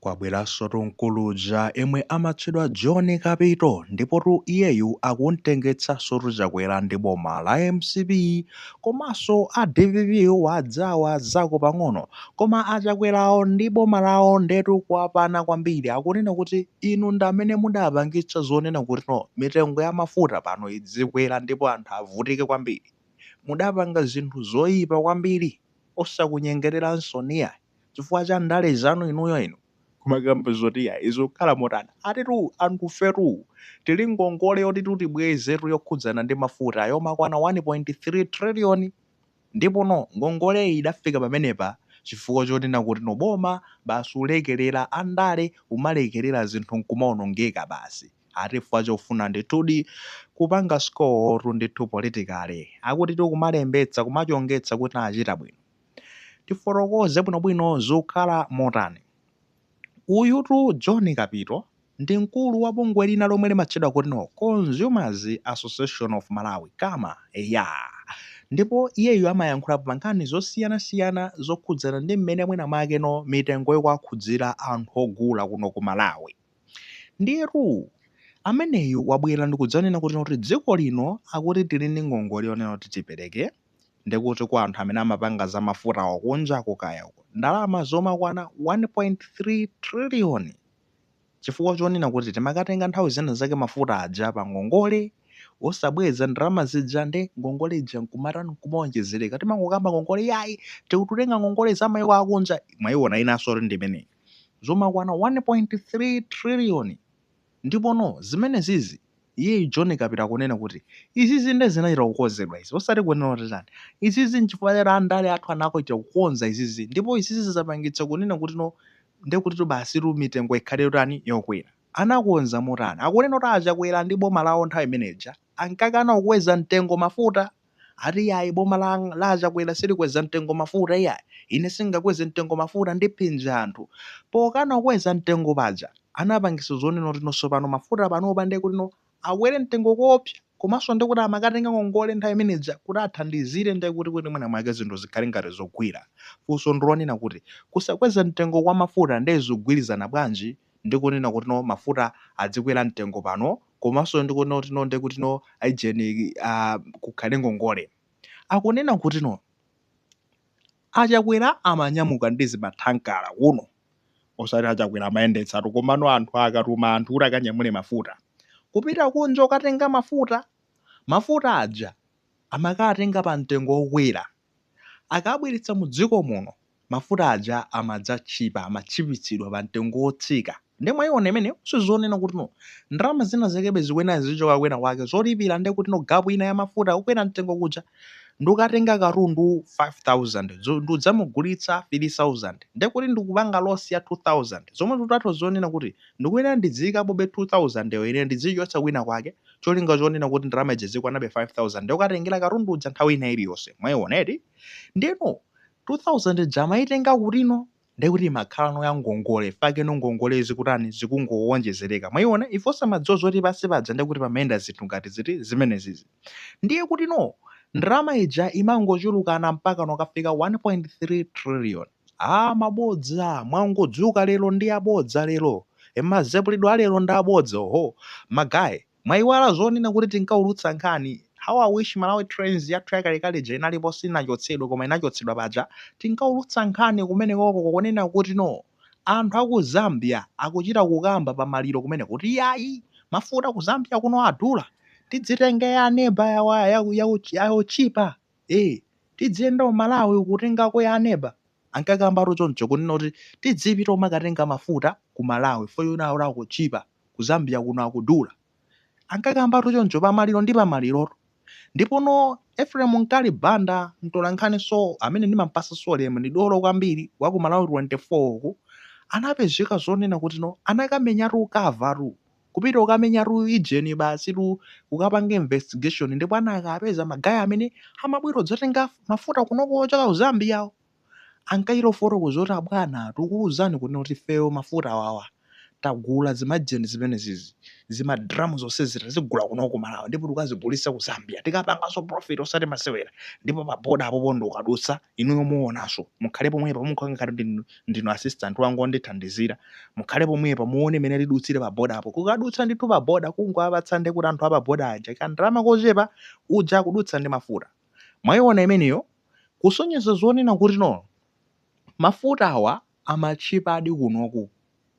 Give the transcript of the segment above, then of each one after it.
Kwabweransotu mkulu uja emwe amatchedwa John Kapito ndipotu iyeyu akumtengetsansotu Chakwera ndi boma la MCP komanso a DPP wa adzawazako pang'ono koma a Chakwerawo ndi boma lawo ndetu kwapana kwambiri akunena kuti inu ndi amene mudapangitsa zonena kutino mitengo ya mafuta pano idzikwera ndipo anthu avutike kwambiri mudapanga zinthu zoipa kwambiri osakunyengereranso iyayi. chifukwa cha ndale zanu inuyo inu kumakamba zoti ya zikukhala motani atitu antufetu tili ngongole yotitu tibwezetu yokhudzana ndi mafuta yomakwana 1.3 trillion ndipo no ngongoleyi idafika pamenepa chifukwa chonena kuti no boma basi ulekelera andale umalekelera zinthu nkumaonongeka basi ati chifukwa chofuna ndithudi kupanga score tu ndithu politically akutitu kumalembetsa kumachongetsa kuti tachita bwino tifotokoze bwinobwino zikukhala motani. Uyutu John Kapito ndi mkulu wa bungwe lina lomwe limatchedwa kuti no Consumers Association of Malawi, Cama, eya. Ndipo iyeyu amayankhulapo pa nkhani zosiyanasiyana zokhudzana ndi mmene mwinamwake no mitengo ikuwakhudzira anthu ogula kuno ku Malawi. Ndiyetu ameneyu wabwera ndikudzanena kuti no dziko lino akuti tili ndi ngongole yonena kuti tipereke. Ndi kuti kwa anthu amene amapanga za mafutawa kunjako kaya uko, ndalama zomakwana 1.3 trillion chifukwa chonena kuti timakatenga nthawi zina zake mafuta aja pa ngongole osabweza ndalama zija nde ngongole ija nkumatani nkumaonjezereka timangokamba ngongole yayi tikutenga ngongole za maiko akunja mwaiona inansotu ndi imeneyi zomakwana 1.3 trillion Ndipono, zimenezizi, iye, John Kapito akunena kuti, izizi nde zinachita kukonzedwa izi, osati kunena kuti tani. Izizi n'chifukwa cha andale athu anachita kukonza izizi ndipo izizi zapangitsa kunena kutino nde kutitu basitu mitengo ikhale yotani, yokwera. Anakonza motani? Akunena kuti a Chakwera ndi boma lawo nthawi imene ija ankakana kukweza mtengo mafuta. ati iyayi boma la Chakwera silikweza mtengo mafuta iyayi ine singakweze mtengo mafuta ndiphinje anthu pokana kukweza mtengo paja anapangisa zonena kuti no tsopano mafuta panopa ndiye kuti no akwere mtengo koopsa komanso ndiye kuti amakatenga ngongole nthawi imeneja kuti athandizire ndiye kuti kuti mwina mwake zinthu zikhale ngati zogwira funso ndilonena kuti kusakweza mtengo kwa mafuta ndiye zikugwirizana bwanji ndi kunena kuti no mafuta adzikwera mtengo pano komanso ndikunena kuti no ndekuti no aijeni ah, kukhale ngongole akunena kuti no achakwera amanyamuka ndi zimathankala kuno osati achakwera amayendetsatu komano anthu akatuma anthu kuti akanyamule mafuta kupita kunja ukatenga mafuta mafuta aja amakatenga pa mtengo wokwera Akawabweretsa mudziko muno mafuta aja amadzatchipa, amatchipitsidwa pa mtengo wotsika. Nde mwaiona imeneyo zonena kuti no ndalama zina zakebe zikuyenera zizichoka kwina kwake zolipira nde kuti no gapu ina ya mafuta okwera mtengo kuja. Ndikukatenga katundu 5000 ndikudzamugulitsa 3000 nde kuti ndikupanga loss ya 2000 zomwe zikutanthauza zonena kuti ndikuyenera ndidziikapobe 2000 yo ine ndidziichotsa kwina kwake. cholinga chonena kuti ndalama ija izikwanabe 5000 ndikukatengera katundu uja nthawi ina iliyonse mwaiona eti ndeno 2000 ija amayitenga kutino ndekuti imakhala no ya ngongole fake no ngongole zikutani zikungowonjezereka mwaiona ife osamadziwa zoti pansi paja ndekuti pamayenda zinthu ngati ziti zimenezizi ndiye kuti no ndalama ija imangochulukana mpaka nokafika 1.3 trillion Aaa mabodza mwangodzuka lero ndi abodza lero e mazepulidwe alero ndi abodza oho magayi mwaiwala zonena kuti tinkaulutsa nkhani how i wish malawi trends yathu yakalekale ija inalipo sinachotsedwe koma inachotsedwa paja tinkaulutsa nkhani kumenekoko konena kuti no anthu aku zambia akuchita kukamba pa maliro kumeneko kuti yayi mafuta ku zambia kuno adula tidzitenge ya aneba ya, ya, ya otchipa ee tidziyenda ku malawi kutengako ya aneba ankakambatu choncho kunena kuti tidzipita kumakatenga mafuta ku malawi fo yuna ora akutchipa ku zambia kuno akudula ankakambatu choncho pa maliro ndi pa malirotu ndipo no ephraim mkali banda mtolankhani so amene ndimampasa so ulemu ndi dolo kwambiri wa ku malawi 24 uku anapezeka zonena kuti no anakamenyatu ukava tu kupita kukamenyatu ijeni basi kukapanga investigation ndipo anakapeza magayi amene amabwera kudzatenga mafuta kunoko ochoka ku zambia awo ankachita kufotokoza kuti abwana tikukuuzani kunena kuti ifeyo mafuta awawa tagula zimajeni zimenezizi zimadramu zonsezi tazigula kunoko ku malawi ndipo tikazigulitsa ku zambia tikapanganso profit osati masewera ndipo paboda apopo ndikukadutsa inuyo muonanso mukhale pomwepo mukhale ngati ndinu ndinu assistant wanga ondithandizira, mukhale pomwepo muone mmene tidutsire pa border po. Kukadutsa ndithu pa border kungowapatsa ndekuti anthu a pa border aja kandalama kochepa, uja kudutsa ndi mafuta. Mwaiona imeneyo? Kusonyeza zonena kuti no, mafutawa amatchipadi kunoku.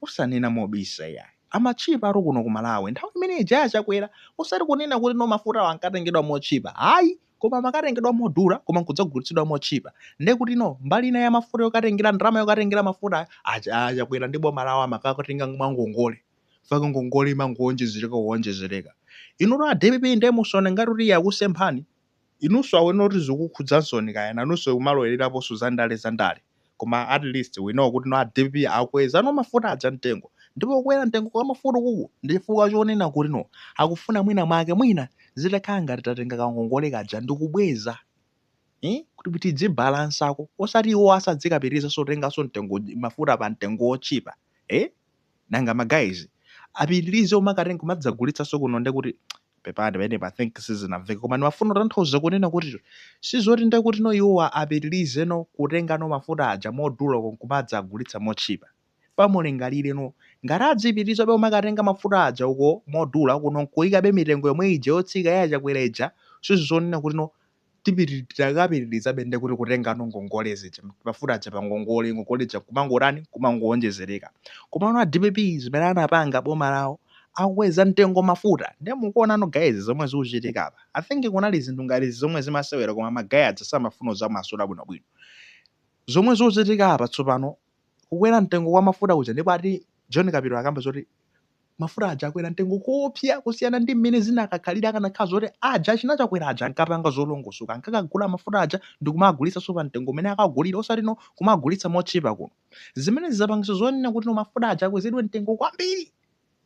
osanena mobisa iyayi amatchipadi kuno ku Malawi nthawi imene ija ya Chakwera osati kunena kuti no mafutawo ankatengedwa motchipa ayi koma amakatengedwa modula koma nkudzagulitsidwa motchipa nde kuti no mbali ina ya mafuta yokatengera ndalama yokatengera mafutayo a Chakwera ndi boma lawo amakatenga mwa ngongole fake ngongole imangowonjezereka kuwonjezereka inutu a dpp nde musaone ngati kuti yakusemphani inunso awone kuti zikukhudzanso kaya nanunso kumalowereraponso za ndale za ndale koma atleast we know kuti no a dpp akweza no mafuta aja mtengo ndipo kukwera mtengo kwa mafuta ukuku ndi chifukwa chonena kuti no akufuna mwina mwake mwina zitakhala ngati tatenga kangongole kaja ndikubweza eh, kuti tidzibalansako osati iwo asadzikapitiriza kutenganso mtengo mafuta pa mtengo wotchipa eh? nanga ma guys apitilize kumakatenga kumadzagulitsaso kuno ndekuti pepani pamenepa i think sizinamveke koma ndimafuna kutanthauza kunena kuti sizoti ndekuti no iwowa apitilize no kutenga no mafuta aja modula uko nkumadzagulitsa motchipa pamulingalire no ngati azipitilizabe kumakatenga mafuta aja uko modula kuno nkuikabe mitengo yomwe ija yotsika ya chakwera ija sizonena kuti no titakapitirizabe nde kuti kutengano ngongole zija mafuta aja pa ngongole ngongole zija kumangotani kumangowonjezereka komano a dpp zimene anapanga boma lawo akweza mtengo mafuta ndiye mukuonano guys zomwe zikuchitika apa i think kunali zinthu ngati izi zomwe zimasewera koma magaya aja samafuna kuzamasula bwinobwino zomwe zikuchitika apa tsopano kukwera mtengo kwa mafuta kuja ndipo ati john kapito akamba zoti Mafuta aja akwera mtengo kopya kusiyana ndi mmene zinakakhalira akanakhala zoti aja achina Chakwera aja ankapanga zolongosoka, ankakagula mafuta aja ndikumagulitsanso pa mtengo umene akagulira osati no kumagulitsa motchipa kuno. Zimenezi zapangitsa zonena kuti no mafuta aja akwezedwe mtengo kwambiri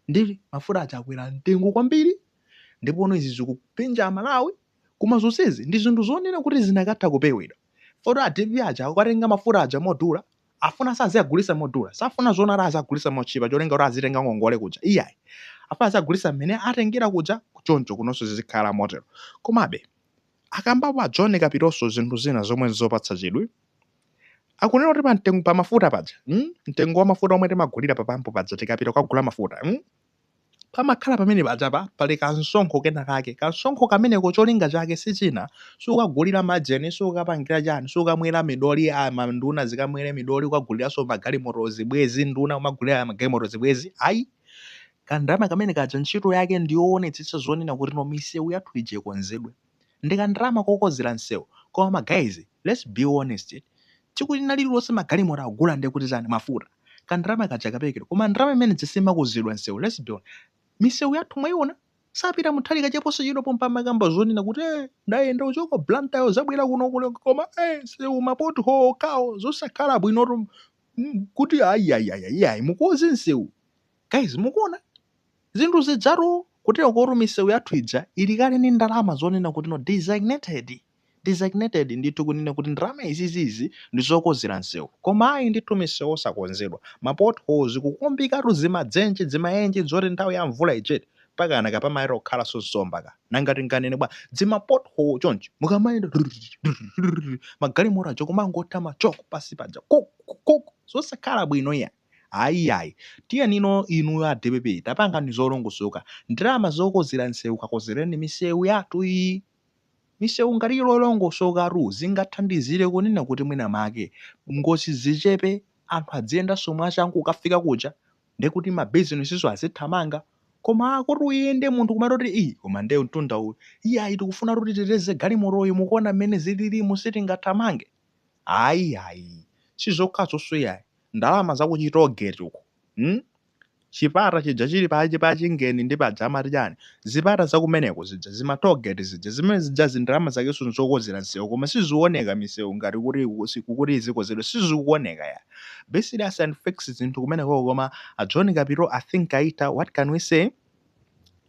nde mafuta aja akwera mtengo kwambiri ndipo no izi zikupinja Amalawi koma zonsezi ndi zinthu zonena kuti zinakatha kupewedwa. Foti a dpp aja akakatenga mafuta aja modula afunaso aziagulisa modula safuna zonena kuti aziagulisa motchipa cholinga kuti azitenga ngongole kuja iyayi afuna aziagulisa mmene atengera kuja choncho kunonso zizikhala motero komabe akambapo a john kapitonso zinthu zina zomwe nzopatsa chidwi akunena kuti pa mtengo pa mafuta paja mm? mtengo wa mafuta omwe timagulira pa pampu paja tikapita kukagula mafuta mm? pamakhala pamene pajapa pali kansonkho kena kake kansonkho kameneko cholinga chake sichina sikugulira majeni sikukapangira chani sikukamwera midoli a manduna zikamwere midoli kukaguliranso magalimoto zibwezi nduna kumagulira magalimoto zibwezi ayi kandalama kamene kaja ntchito yake ndiyoonetsetsa zonena kuti no misewu yathu ija ikonzedwe ndikandalama kokozera nsewu koma ma guys let's be honest tsiku lina lililonse magalimoto akugula ndekuti tani mafuta kandalama kaja kaperekedwa koma ndalama imene ija simakozedwa nsewu let's be misewu yathu mwaiona sapita muthalika che posachedwa pompa amakamba zonena kuti eh ndayenda kuchoka blantyre ndabwera kuno kuno koma eh nsewu ma pothole okhawo zosakhala bwinotu mm, kuti ayayaya iyayi mukoze nsewu Guys mukuona zinthu zizizitu kuterokotu misewu yathu ija ili kale ndi ndalama zonena kuti no designated designated ndithu kunena kuti ndalama izizi izi ndi zokonzera msewu koma ayi ndithu misewu osakonzedwa ma potholes kukumbikatu zimadzenje zimayenje zoti nthawi ya mvula ijeti mpaka kupamayenera kukhalanso nsomba ka nanga tinganene bwa zima pothole chonchi mukamayenda magalimoto aja kumangotha ma shock pasi paja kok kok zosakhala bwino iya Ayi iyayi. Tiyenino inuyo a dpp tapangani zolongosoka. Ndalama zokonzera msewu kakonzereni misewu yathu iyi. Misewu ngati ili yolongosokatu zingathandizire kunena kuti mwina make ngozi zichepe anthu adziyendanso mwachangu ukafika kuja nde kuti ma businessinso azithamanga. Koma kuti uyende munthu kumangoti ii koma nde mtunda uwu. Iyayi tikufunatu titeteze galimotoyi mukuona mmene zililimu sitingathamange. Ayi ayi sizokhazonso yayi ndalama za ku chitogeti uko mm chipata chija chili pa pa chingeni ndi paja amati chani zipata za kumeneko zija zima togeti zija zimene zija zindalama zakenso nzokonzera nsewu koma sizioneka misewu ngati kuti kuti izikonzedwa sizikuoneka yayi be serious and fix zinthu kumenekoko koma a John Kapito I think aitha what can we say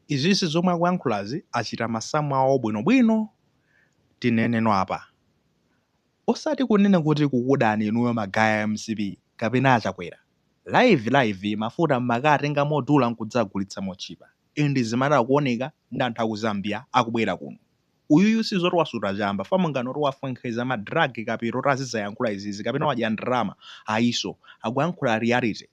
izizi zomwe akuyankhulazi achita masamu awo bwinobwino tinenenso apa. osati kunena kuti akukudani inuyo magaya a mcp kapena a chakwera. live live mafuta mmakatenga modula nkudzagulitsa motchipa and zimatha kuoneka nde anthu aku zambia akubwera kuno. uyuyu sizoti wasuta chamba fam nganoti wafwenkheza ma drug Kapito kuti azidzayankhula izizi kapena wadya ndalama ayinso akuyankhula reality.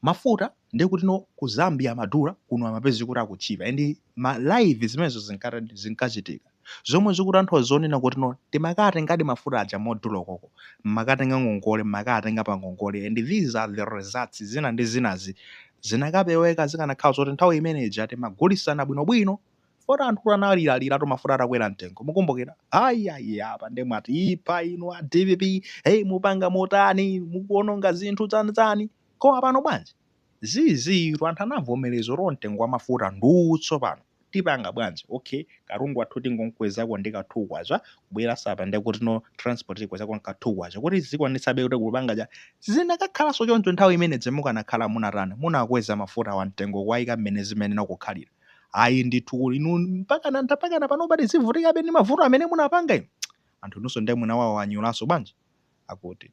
mafuta ndi kuti no ku zambia amadula kuno amapeza kuti akutchipa and ma live zimenezo zinkatani zinkachitika zomwe zikutanthauza zonena kuti no timakatengadi mafuta aja modula ukoko mmakatenga ngongole mmakatenga pa ngongole and these are the results zina ndi zinazi zinakapeweka zikanakhala zoti nthawi imeneyi ija timagulisana bwinobwino Poti anthu analiraliratu mafuta atakwera mtengo. Mukumbukira? Ayi ayi apa nde mwatipha inu a DPP, hey mupanga motani, mukuononga zinthu chani chani. Koma pano bwanji? Izizitu anthu anavomerezatu mtengo wa mafuta ndutso pano. Tipanga bwanji? Okay, katundu wathu tingomkwezako ndi ka 2 kwacha, kubweranso apa nde kuti no transport tikwezako nka 2 kwacha. Kuti zikwanitsabe kuti kupanga chani. Zinakakhalanso choncho nthawi imene ija mukanakhala munatani, munakweza mafutawa mtengo kuwaika mmene zimayenera kukhalira. ayi ndithu kuli inu mpakana mpakana panopa tizivutikabe ndi mavuto amene munapanga inu anthu inunso ndiye munawawanyulanso bwanji akuti